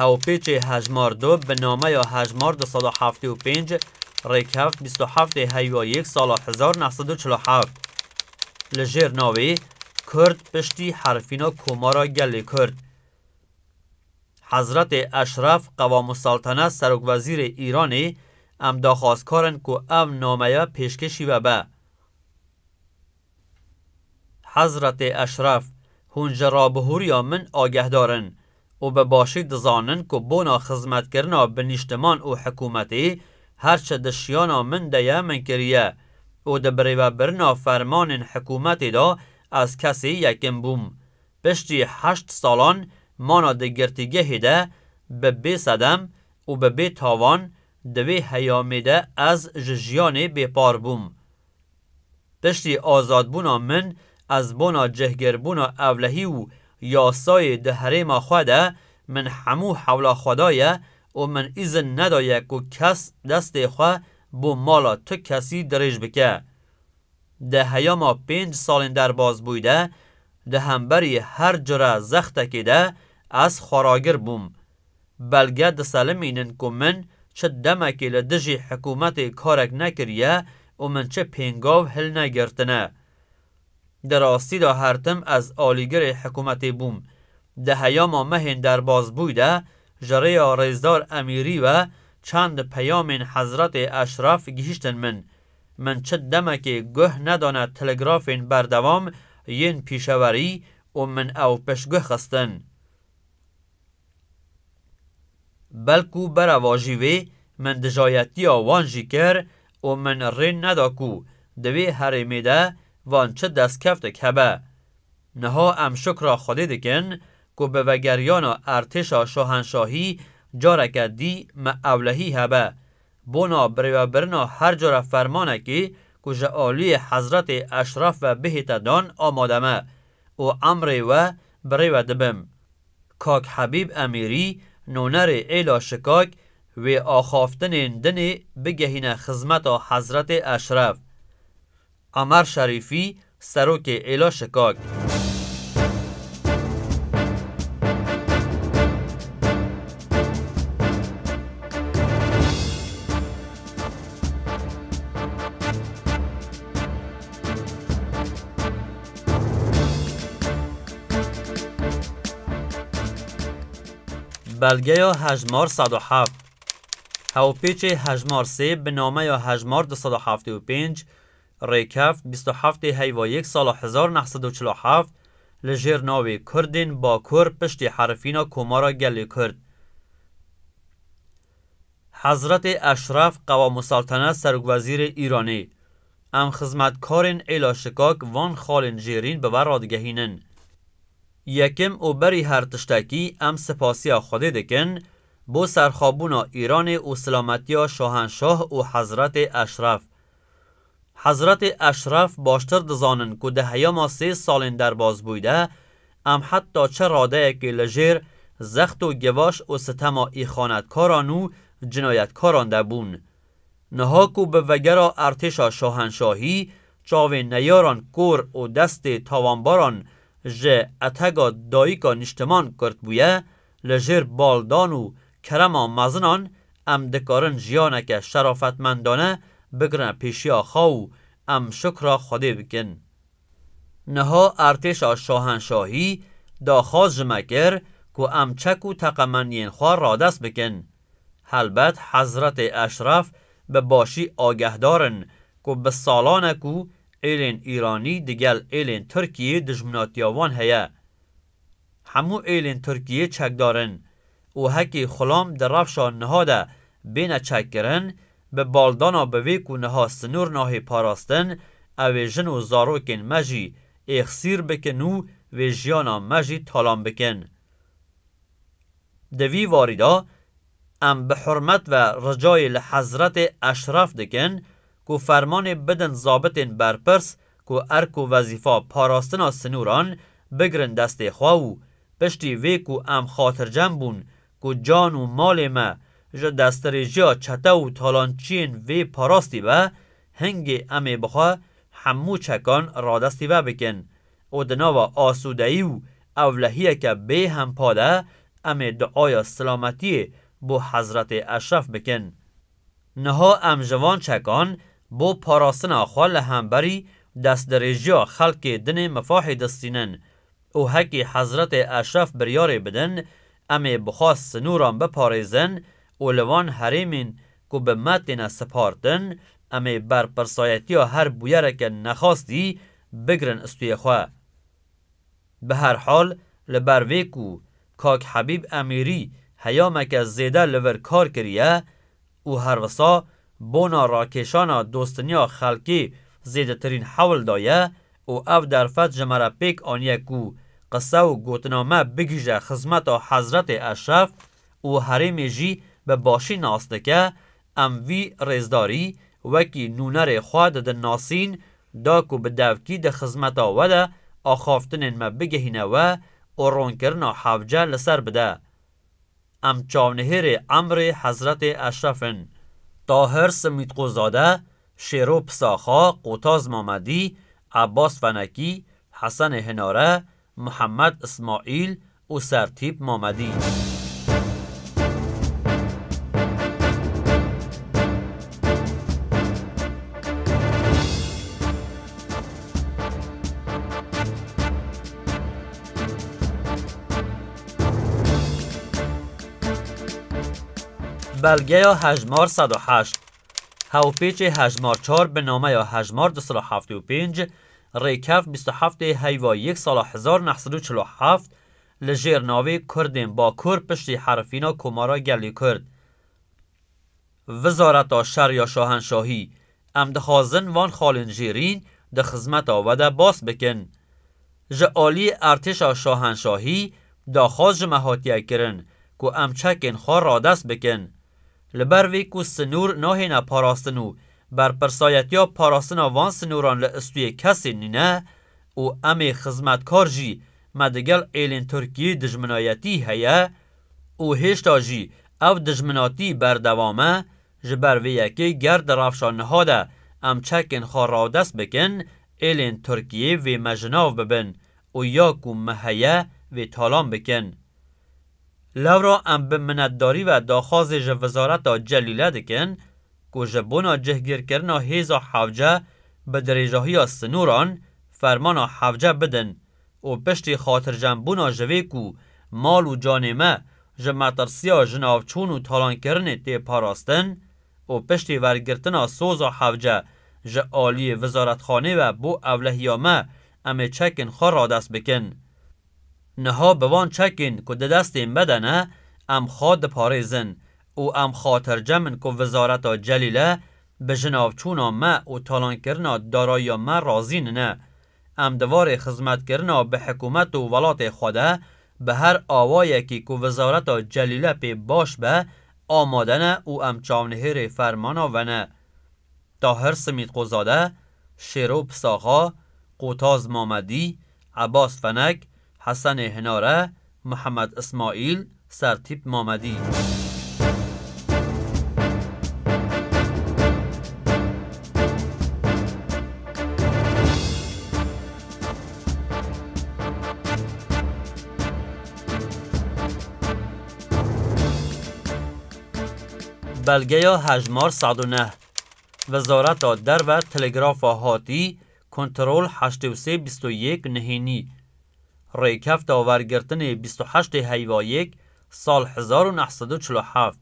Hewpêçê hejmar du bi nameya Hejmar du sed û heftê û pênc, rêkevt bîst û heftê heywa yek sala hezar neh sed û çil û heft. Li jêr navê Kurd piştî herfîna Komara Gelê Kurd. Hezretê Eşref Qewamûseltene Serokwezîrê Îranê, Em daxwazkar in ku ev nameya pêşkêşî vebe. Hezretê Eşref, Hûn ji rabihûriya min agehdar in û bi başî dizanin ku bona xizmetkirina bi nîştiman û hikûmetî her çi di şiyana min de ye min kiriye û di birêvebirina fermanên hikûmetê de ez kesê yekim bûm. Piştî heşt salan mana di girtîgehê de bi bê sedem û bi bê tavan di vê heyamê de ez ji jiyanê bêpar bûm. Piştî azadbûna min ez bona cihgîrbûna ewlehî û yasayê di herêma xwe de, min hemû hewla xwe daye û min îzin nedaye ku kes destê xwe bo mala tu kesî dirêj bike. Di heyama pênc salên derbazbûyî de, di hemberî her cure zextekê de ez xweragir bûm. Belge diselimînin ku min çi demekê li dijî hikûmetê karek nekiriye û min çi pêngav hilnegirtine. Di rastî de her tim ez alîgirê hikûmetê bûm. Di heyama me hên derbasbûy de ji rêya Rêzdar Emîrî ve çend peyamên Hezretê Eşref gihîştin min. Min çi demekê guh nedane telegrafên berdewam yên pîşewerî û min ew piştguh xistin. Belkû berava jî wê min dijayetiya wan jî kir û min rê neda ku di wê herêmê de van çi destkevtek hebe. Niha em şukra Xwedê dikin ku bi vegeriyana Ertêşa Şahenşahî careke dî me ewlehî hebe. Bona birêvebirina her cure fermanekê ku ji aliyê Hezretê Eşref ve bihête dan amade me û emrê we birêve dibim. Kak Hebîb Emîrî, Nûnerê Êla Şikak, wê axaftinên dinê bigehîne xizmeta Hezretê Eşref. Emer Şerîfî, Serokê Êla Şikak. Belgeya hejmar sed û heft Hewpêçê hejmar sê bi nameya hejmar du sed û heftê û pênc rêkeft bîst û heftê heyva yek sala hezar û neh sed û çil û heft li jêr navê Kurdên Bakur piştî herifîna Komara Gelê Kurd Hezretê Eşref Qewamûseltene Serokwezîrê Îranê Em xizmetkarên Êla Şikak van xalên jêrîn bi we radigehînin. Yekim û berî her tiştekî em sipasiya Xwedê dikin bo serxwebûna Îranê û silametiya Şahenşah û Hezretê Eşref. Hezretê Eşref baştir dizanin ku di heyama sê salên derbas bûy de em heta çi radeyekê li jêr zext û givaş û sitema îxanetkaran û cinayetkaran de bûn. Niha ku bi vegera Ertêşa Şahenşahî çavên neyaran kor û destê tawanbaran ji Etega Dayika Nîştiman kurt bûye, li jêr baldan û kerema mezinan em dikarin jiyaneke şerafetmendane bigirine pêşiya xwe û em şukra Xwedê bikin. Niha Ertêşa Şahenşahî daxwaz ji me kir ku em çek û teqemeniyên xwe radest bikin. Helbet Hezretê Eşref bi başî agehdar in ku bi salan e ku êlên Îranî digel êlên Tirkiyê dijminatiya wan heye. Hemû êlên Tirkiyê çekdar in û hekî xulam di rewşa niha de bêne çekkirin, bi baldana bi vê ku niha sinûr nahê parastin, ew ê jin û zarokên me jî êxsîr bikin û vê jiyana me jî talan bikin. Di vî varî de em bi hurmet ve ricayê li Hezretê Eşref dikin ku fermanê bidin zabitên berpirs ku erk û wezîfa parastina sinûran bigirin destê xwe û piştî vê ku em xatircem bûn ku can û malê me ji destdirêjiya çete û talançiyên vê parastî be, hingê em ê bi xwe hemû çekan radestî ve bikin. û di nava asûdeyî û ewlehiyeke bê hempa de em ê duaya silametiyê bo Hezretê Eşref bikin. Niha em ji van çekan bo parastina xwe li hemberî destdirêjiya xelkê dinê mifahê distînin û hekî Hezretê Eşref biryarê bidin em ê bi xwe sinûran biparêzin û li van herêmên ku bi me têne sipardin, em ê berpirsayetiya her bûyereke nexwastî bigirin istûyê xwe. Bi her hal li ber vê ku kak Hebîb Emîrî heyameke zêde li vir kar kiriye û her wisa bona rakêşana dostiniya xelkê zêdetirîn hewl daye û ev derfet ji me re pêk aniye ku qise û gotina me bigihîje xizmeta Hezretê Eşref û herêmê jî bi başî nas dike, em vî rêzdarî wekî nûnerê xwe didin nasîn, da ku bi devkî di xizmeta we de axaftinên me bigihîne we û ronkirina hevce li ser bide. Em çavnihêrê emrê Hezretê Eşref in. Tahir Simîtqûzade, Şêro Pisaxa, Qotaz Mamedî, Ebas Fenekî, Hesenê Hinare, Mihemed Îsmaîl, û Sertîp Mamedî. Belgeya hejmar sed û heşt, Hewpêçê hejmar çar bi nameya hejmar du sed û heftê û pênc Rêkev bîst û heftê heyva yek sala hezar neh sed û çil û heft li jêr navê Kurdên Bakur piştî herifîna Komara Gelê Kurd Wizareta Şer ya Şahenşahî Em dixwazin van xalên jêrîn di xizmeta we de bas bikin. Ji aliyê Ertêşa Şahenşahî daxwaz ji me hatiye kirin ku em çekên xwe radest bikin. Li ber vê ku sinûr nahêne parastin û berpirsayetiya parastina van sinûran li istûyê kesên nîne û em ê xizmetkar jî me digel êlên Tirkiyeyê dijminayetî heye û hêşta jî ev dijminatî berdewam e, ji ber vê yekê ger di rewşa niha de em çekên xwe radest bikin êlên Tirkiyeyê vê me ji nav bibin û ya ku me heye vê talan bikin. Lewra em bi minetdarî ve daxwazê ji Wizareta Celîle dikin ku ji bona cihgîrkirina hêza hewce bi dirêjahiya sinoran fermana hewce bidin û piştî xatirjembûna ji vê ku mal û canê me ji metirsiya jinavçûn û talankirinê tê parastin û piştî wergirtina soza hewce ji aliyê Wizaretxanê ve bo ewlehiya me em ê çekên xwe radest bikin. Niha bi van çekên ku di destên me de ne, em xwe diparêzin û em xatircem in ku Wizareta Celîle bi jinavçûna me û talankirina darayiya me razî nine. Em di varê xizmetkirina bi hikûmet û welatê xwe de bi her awayekî ku Wizareta Celîle pê baş be amade ne û em çavnihêrê fermana we ne. Tahir Simîtqozade, Şêro Pisaxa, Qotaz Mamedî, Ebas Fenek, Hesenê Hinare, Mihemed Ismaîl, Sertîp Mamedî. Belgeya hejmar sed û neh. Wezareta Derve Telegrafa hatî Kontrol heştê û sê bîst û yek nihênî Rêkefta wergirtinê bîst û heştê heyva yek sal hezar û neh sed û çil û heft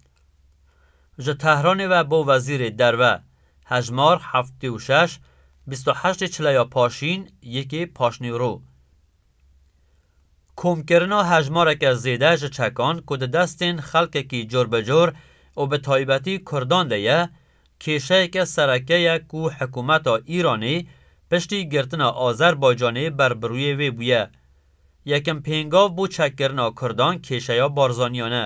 Ji Tehranê ve bo Wezîrê Derve Hejmar heftê û şeş bîst û heştê çileya paşîn yekê paşnîwro Komkirina hejmareke zêde ji çekan ku di destên xelkekî cor bi cor û bi taybetî Kurdan de ye Kêşeyeke sereke ye ku hikûmeta Îranê piştî girtina Azerbaycanê ber bi rûyê wê bûye. Yekem pêngav bo çekkirina kurdan kêşeya Barzaniyan e.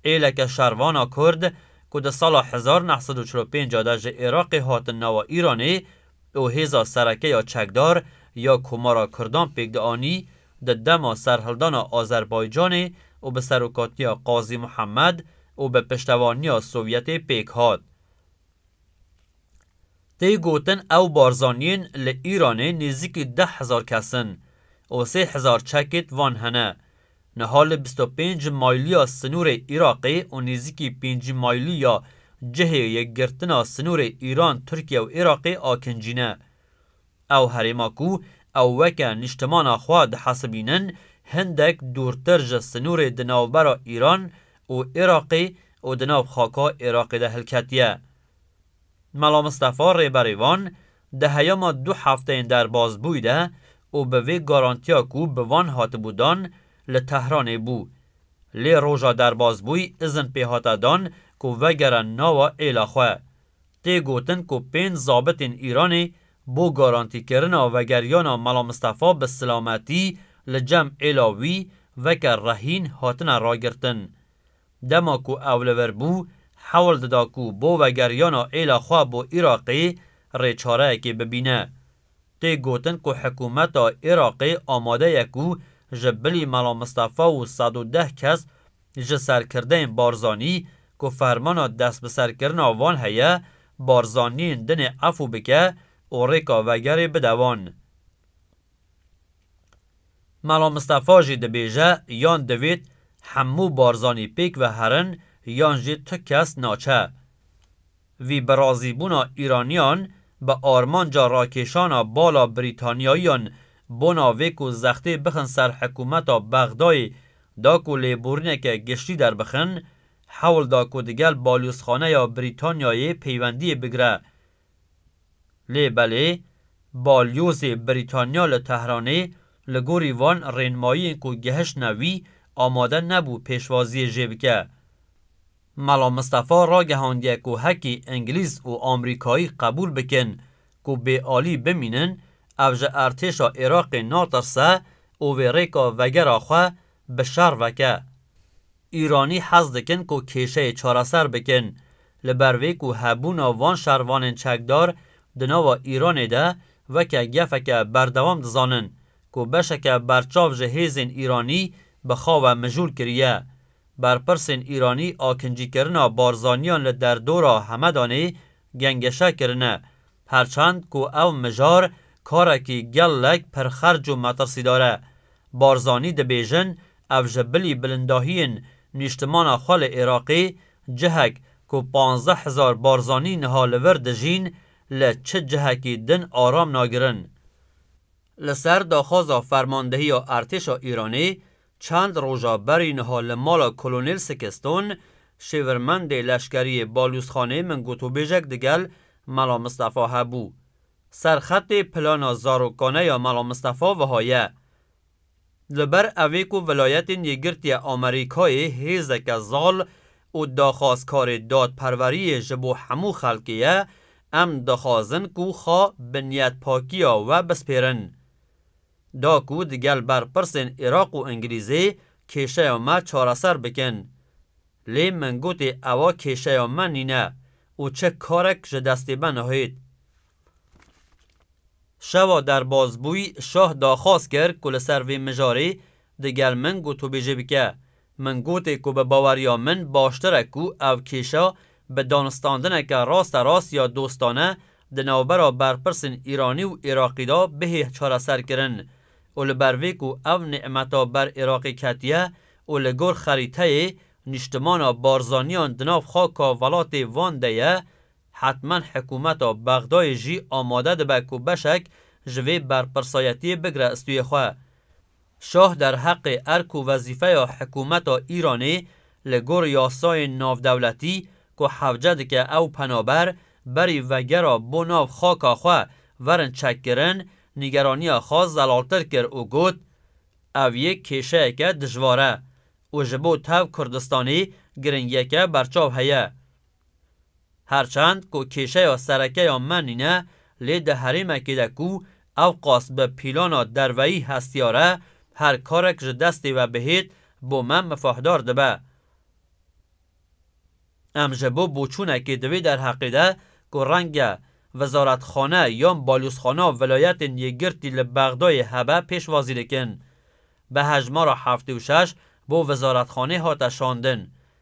Êleke şervana kurd ku di sala hezar neh sed û çil û pênc de ji Iraqê hatin nava Îranê û hêza sereke ya çekdar ya Komara Kurdan pêk dianî di dema serhildana Azerbaycanê û bi serokatiya Qazî Muhemed û bi piştevaniya Sovyetê pêk hat. Tê gotin ew barzaniyên li Îranê nêzîkî deh hezar kes in û sê hezar çekêt van hene Niha li bîst û pênc maylîya sinûrê Iraqê û nêzîkî pêncî maylî ya cihê yekgirtina sinûrê Îran, Tirkiye û Iraqê akincî ne. Ew herêma ku ew weke nîştimana xwe dihesibînin hindek dûrtir ji sinûrê di navbera Îran û Iraqê û di nav xaka Iraqê de hilketiye. Mela Mistefa rêberê van di heyama du hefteyên derbasbûyî de û bi vê garantiya ku bi van hatibû dan li Tehranê bû. Lê roja derbasbûyî izin pê hate dan ku vegere nawa êla xwe. Tê gotin ku pênc zabitên Îranê bo garantîkirina vegeriyana Mela Mistefa bi silametî li cem êla wî veke rehîn hatine ragirtin. Dema ku ew li vir bû, hewl dida ku bo vegeriyana êla xwe bo Iraqê rêçareyekê bibîne. Tê gotin ku hikûmeta Iraqê amade ye ku ji bilî Mela Mistefa û sed û deh kes ji serkirdeyên Barzanî ku fermana destbiserkirina wan heye, Barzaniyên dinê efû bike û rêka vegerê bide wan. Melo Mistefa jî dibêje yan divêt hemû Barzanî pêk ve herin yan jî tu kes naçe. Vî bi razîbûna Îraniyan bi armanca rakêşana bala Brîtanyayiyan bona vê ku zextê bixin ser hikûmeta Bexdayê da ku lêborîneke giştî derbixin, hewl da ku digel balûzxaneya Brîtanyayê peywendiyê bigire Lê belê Balyozê Brîtanya li Tehranê li gorî van rênmayiyên ku gihiştine wî amade nebû pêşwaziyê jê bike. Mela Mistefa ragihandiye ku hekî Îngilîz û Amrîkayî qebûl bikin ku bê alî bimînin ev ji Ertêşa Iraqê natirse û vê rêka vegera xwe bi şer veke. Îranî hez dikin ku kêşeyê çareser bikin, li ber vê ku hebûna van şervanên çekdar di nava Îranê de weke gefeke berdewam dizanin ku beşeke berçav ji hêzên Îranî bi xawe mijûl kiriye. Berpirsên Îranî akincîkirina Barzaniyan li derdora Hemedanê gengeşa kirine. Her çend ku ev mijar karekî gelek pirxerc û metirsîdar e. Barzanî dibêjin ev ji bilî bilindahiyên nîştimana xwe li Iraqê, cihek ku panzdeh hezar barzanî niha li vir dijîn, li çi cihekî din aram nagirin. Li ser daxwaza fermandehiya Ertêşa Îranê, Çend roja berî niha li mala Kolonel Sikiston, şêvirmendê leşkeriyê Balûzxanê min gotûbêjek digel Mela Mistefa hebû. Ser xetê plana zarokane ya Mela Mistefa wiha ye, Li ber evê ku Vilayetên Yekgirtiye Amerîkayê hêzeke zal û daxwazkarê dadperweriyê ji bo hemû xelkê ye, em dixwazin ku xwe bi niyetpakiya we bispêrin. da ku di gel berpirsên Iraq û Îngilîzê kêşeya me çareser bikin. Lê min gotê ewa kêşeya me nîne û çi karek ji destê me nahêt. Şewa derbas bûy şah daxwaz kir ku li ser vê mijarê di gel min gotûbêjî bike Min gotê ku bi baweriya min baştir e ku ev kêşa bi danistandineke rasterast ya dostane di navbera berpirsên Îranî û Iraqî de bihê çareserkirin û li ber vê ku ev nî'meta ber Iraqê ketiye û li gor xerîteyê nîştimana Barzaniyan di nav xaka velatê van de ye hetmen hikûmeta Bexdayê jî amade dibe ku beşek ji vê berpirsayetiyê bigire istûyê xwe. Şah derheqê erk û wezîfeya hikûmeta Îranê li gor yasayên navdewletî ku hevce dike ew penaber berî vegera bo nav xaka xwe werin çekkirin, nîgeraniya xwe zelaltir kir û got, Ev yek kêşeyeke dijwar e û ji bo tev Kurdistanê giringiyeke berçav heye. Her çend ku kêşeya sereke ya me nîne, lê di herêmekê de ku ewqas bi pîlana derveyî hestiyar e, her karek ji destê ve bihêt bo me mifahdar dibe. Em ji bo boçûnekê di vê derheqê de ku renge Wizaretxane yan Balyozxana Vilayetên Yekgirtî li Bexdayê hebe pêşwazî dikin. Bi hejmara heftê û şeş bo Wizaretxanê hate şandin.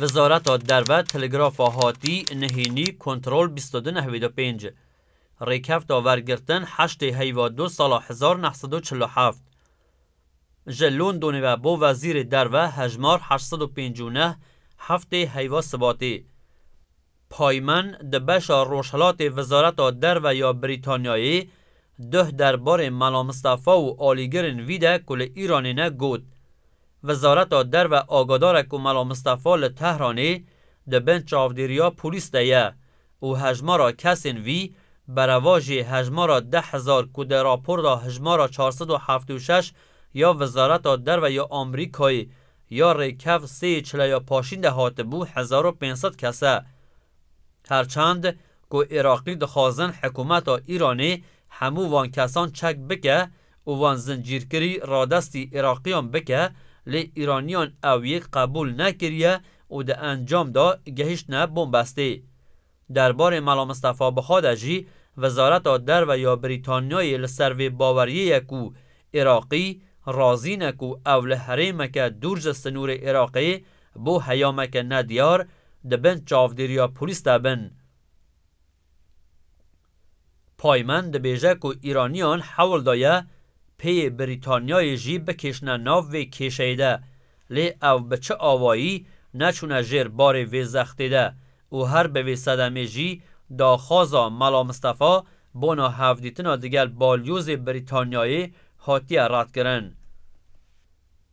Wizareta Derve Telegrafa Hatî Nihînî Kontrol bîst û du nehwîd û pênc Rêkefta wergirtin heştê heyva du sala hezar neh sed û çil û heft Ji Londonê ve bo Wezîrê Derve hejmar heşt sed û pêncû neh Heftê heyva sibatê Payman di beşa rojhilatê Wizareta Derve ya Brîtanyayê duh derbarê Mela Mistefa û alîgirên vî de ku li Îranê ne got, Wizareta Derve agadar e ku Mela Mistefa li Tehranê di bin çavdêriya polîs de ye û hejmara kesên vî berevajê hejmara deh hezar ku di raporda hijmara çar sed û heft û şeş ya Wizareta Derve ya Amerîkayê Ya rêkev sê çileya paşîn de hatibû hezar û pênc sed kes e. Her çend ku Iraqî dixwazin hikûmeta Îranê hemû van kesan çek bike û wan zincîrkirî radestî Iraqîyan bike lê Îranîyan ew yek qebûl nekiriye û di encam de gehîştine bombestê. Derbarê Mela Mistefa bi xwe de jî Wezareta Derve ya Brîtanyayê li ser vê baweriyê ye ku Iraqî razî ne ku ew li herêmeke dûr ji sinûrê Iraqê bo heyameke nediyar di bin çavdêriya polîs de bin. Paymen dibêje ku Îraniyan hewl daye pêyê Brîtanyayê jî bikêşine nav vê kêşeyê de, lê ew bi çi awayî neçûne jêr barê vê zextê de û her bi vê sedemê jî daxwaza Mela Mistefa bona hevdîtina digel balyozê Brîtanyayê hatiye redkirin.